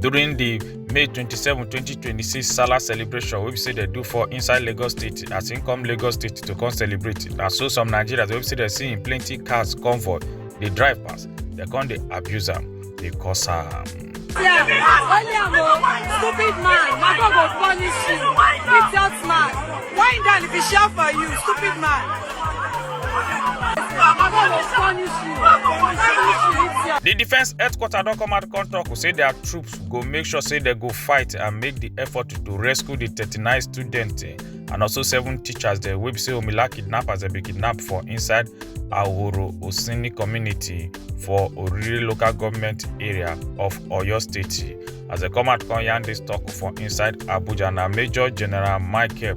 during di may 27 2026 salah celebration wey be say dem do for inside lagos state as im come lagos state to come celebrate na so some nigerians wey be say dem see im plenty cars convoy dey drive pass dem come dey abuse am dey curse am. Yeah, only am o stupid man na God go punish you idiot man why im die if e share for you stupid man. di defence headquarter don come out come tok say dia troops go make sure say dem go fight and make di effort to rescue di 39 students and also seven teachers dem wey be say omila kidnappers dem bin kidnap for inside ahoro osini community for oriri local government area of oyo state as dem come out come yarn dis tok for inside abuja na major general michael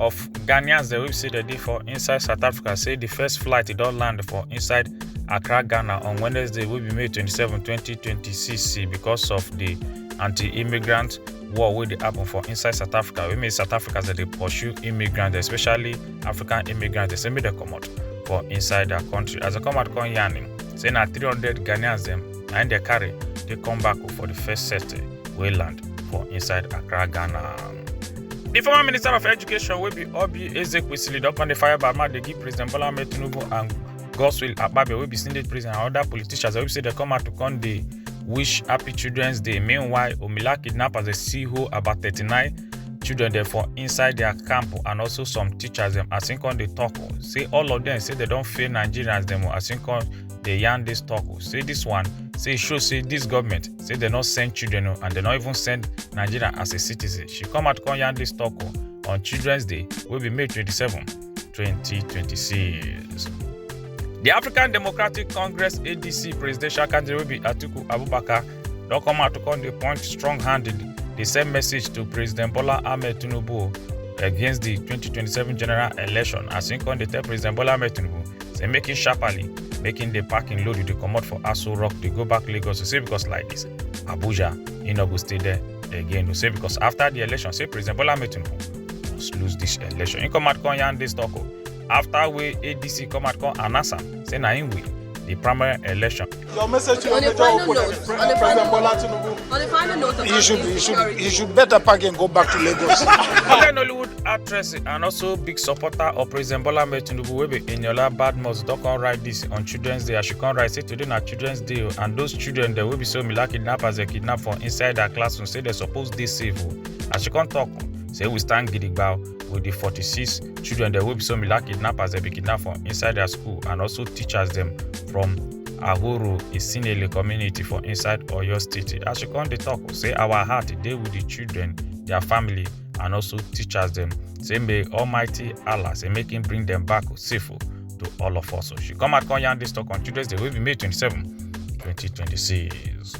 of ghanaians dem wey say dem dey for inside south africa say di first flight e don land for inside accra ghana on wednesday wey be may 27 2026 because of di anti-immigrant war wey dey happen for inside south africa wey mean south africans dem dey pursue immigrants especially african immigrants dem say make dem comot for inside their country as dem come out come yarn him say na 300 ghanaians dem na im dem carry dey come back for di first set wey land for inside accra ghana. di former minister of education wey be obi ezekwesili don come dey fire bama dey give president bola ahmed tinubu and godswill akpabio wey be senate president and oda politicians wey be say dem come out to come dey wish happy children's day meanwhile omila kidnappers dey see hold about 39 children dem for inside dia camp and also some teachers dem as im come dey tok say all of dem say dem don fail nigerians dem as im come dey yarn dis tok say dis one say e show say dis government say dem no send children o and dem no even send nigeria as a citizen she come out come yarn dis talk o on children's day wey be may 27 2026. di african democratic congress adc presidential candidate wey be atiku abubakar don come out to come dey point strong hand dey send message to president bola ahmed tinubu against di 2027 general election as im come dey tell president bola ahmed tinubu say make him sharply make him dey pack him load dey comot for aso rock dey go back lagos say because like this abuja he no go stay there again say because after the election say president bola ahmed tinubu must lose this election he come out come yarn this talk o after wey adc come out come announce am say na him win the primary election Your message to your major opponent, President Bola Tinubu. On the final note, he should, he should, he should better pack and go back to Lagos. African Hollywood actress and also big supporter of President Bola Tinubu wey be Eniola Badmus don come write this on Children's Day. As she come write say today na Children's Day o and those children dem wey be so Mila kidnap as dem kidnap for inside her classroom say dem suppose dey safe o. As she come talk say we stand gidigba o. with di 46 children dem wey be so mila kidnappers dem bin kidnap for inside dia school and also teachers dem from ahoro isinele community for inside oyo state as she come dey tok say our heart dey with di children dia family and also teachers dem say may almighty allah say make him bring dem back safe to all of us so she come out come yarn dis tok on children's day wey be may 27 2026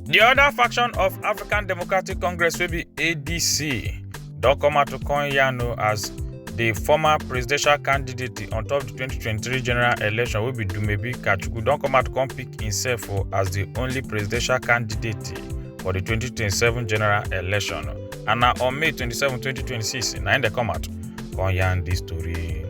di oda faction of african democratic congress wey be adc don come out to come yarn o as di former presidential candidate on top di 2023 general election wey be dumebi kachukwu don come out come pick imsef o as di only presidential candidate for di 2027 general election and na on may 27 2026 na im dem come out come yarn dis tori.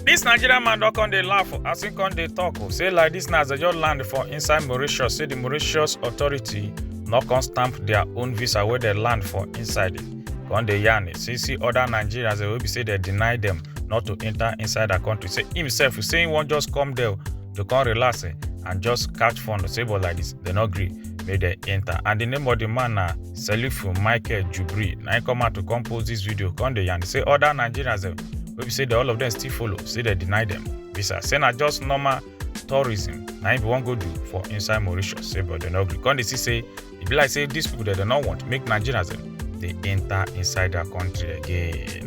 Dis Nigerian man don come dey laugh o, as im come dey talk o, say like dis na as dem just land for inside Mauritius, say the Mauritius authority no come stamp their own visa wey dem land for inside it. Come dey yarn, say see other Nigerians dem wey be say dem deny dem not to enter inside their country. Say himself, say im wan just come there o, to come relax eh, and just catch fun o, say but like dis, dem no gree make dem enter. And the name of the man na selifu michael jubri na im come out to come post dis video come dey yarn say oda nigerians dem wey be say dem all of dem still follow say dem deny dem visa say na just normal tourism na im be wan go do for inside mauritius say but dem no gree come dey see say e be like say dis pipo dem dem no want make nigerians dem dey enta inside dia kontri again.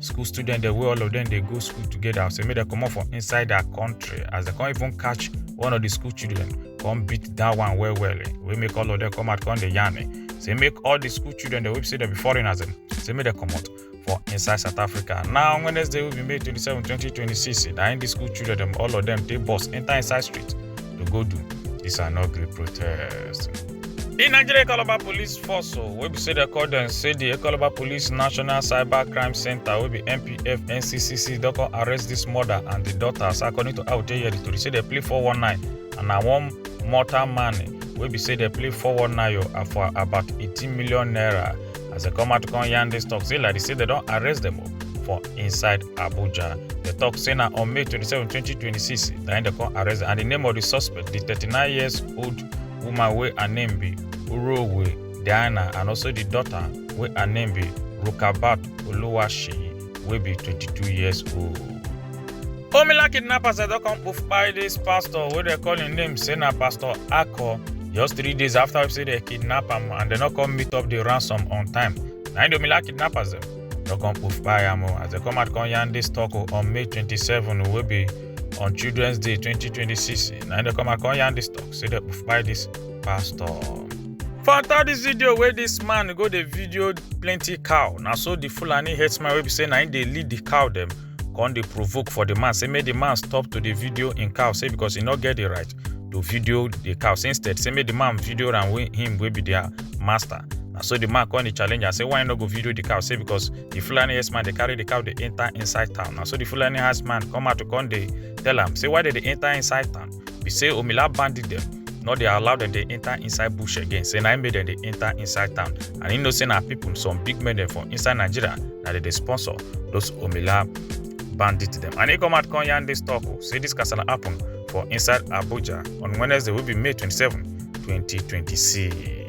school students dem wey all of them dey go school together say make dem comot for inside their country as dem come even catch one of the school children come beat that one well well eh, wey make all of them come out come dey yarn eh, say make all the school children dem wey be say dem be foreigners dem say make dem comot for inside south africa now on wednesday wey be may twenty-seven twenty twenty-six na im the school children dem all of them take bus enter inside street to go do dis and no gree protest. di nigeria econoba police force o wey be say dem call dem say di econoba police national cyber crime centre wey be npf nccc don come arrest dis mother and di daughters according to how dey hear di tori say dem play 419 and na one mortal man wey be say dem play 419 o for about 18 million naira as i come out come yarn dis tok say like say dem don arrest dem for inside abuja The talk say na on may 27 2026 na im dem come arrest and the name of the suspect the 39 years old woman wey her name be urowe diana and also the daughter wey her name be rukabat oluwaseyi wey be 22 years old. Omila kidnappers don come kpai dis pastor wey dem call im name say na pastor Ako just three days after we say dem kidnap am and dem no come meet up the ransom on time. Na im the Omila kidnappers dem don come kpai am o as dem come out come yarn dis talk o on May 27 wey be on Children's Day 2026. Na im dem come out come yarn dis talk say dem kpai dis pastor. For third this video where this man go the video plenty cow Now so the Fulani herdsman wey be say na him dey lead the cow them. come dey provoke for the man say make the man stop to the video in cow say because he not get the right to video the cow say instead say make the man video and wey him wey be their master na so the man come the challenge and say why you no go video the cow say because the fulani herdsman they carry the cow they enter inside town na so the fulani herdsman come out to come dey tell him say why did they enter inside town be say omila bandit dem no dey allow dem dey enter inside bush again say na im make dem dey enter inside town and im know say na people some big men dem for inside nigeria na dem dey sponsor those omila bandit dem and e come out come yarn dis talk o say dis kasala happen for inside abuja on wednesday wey be may 27 2026.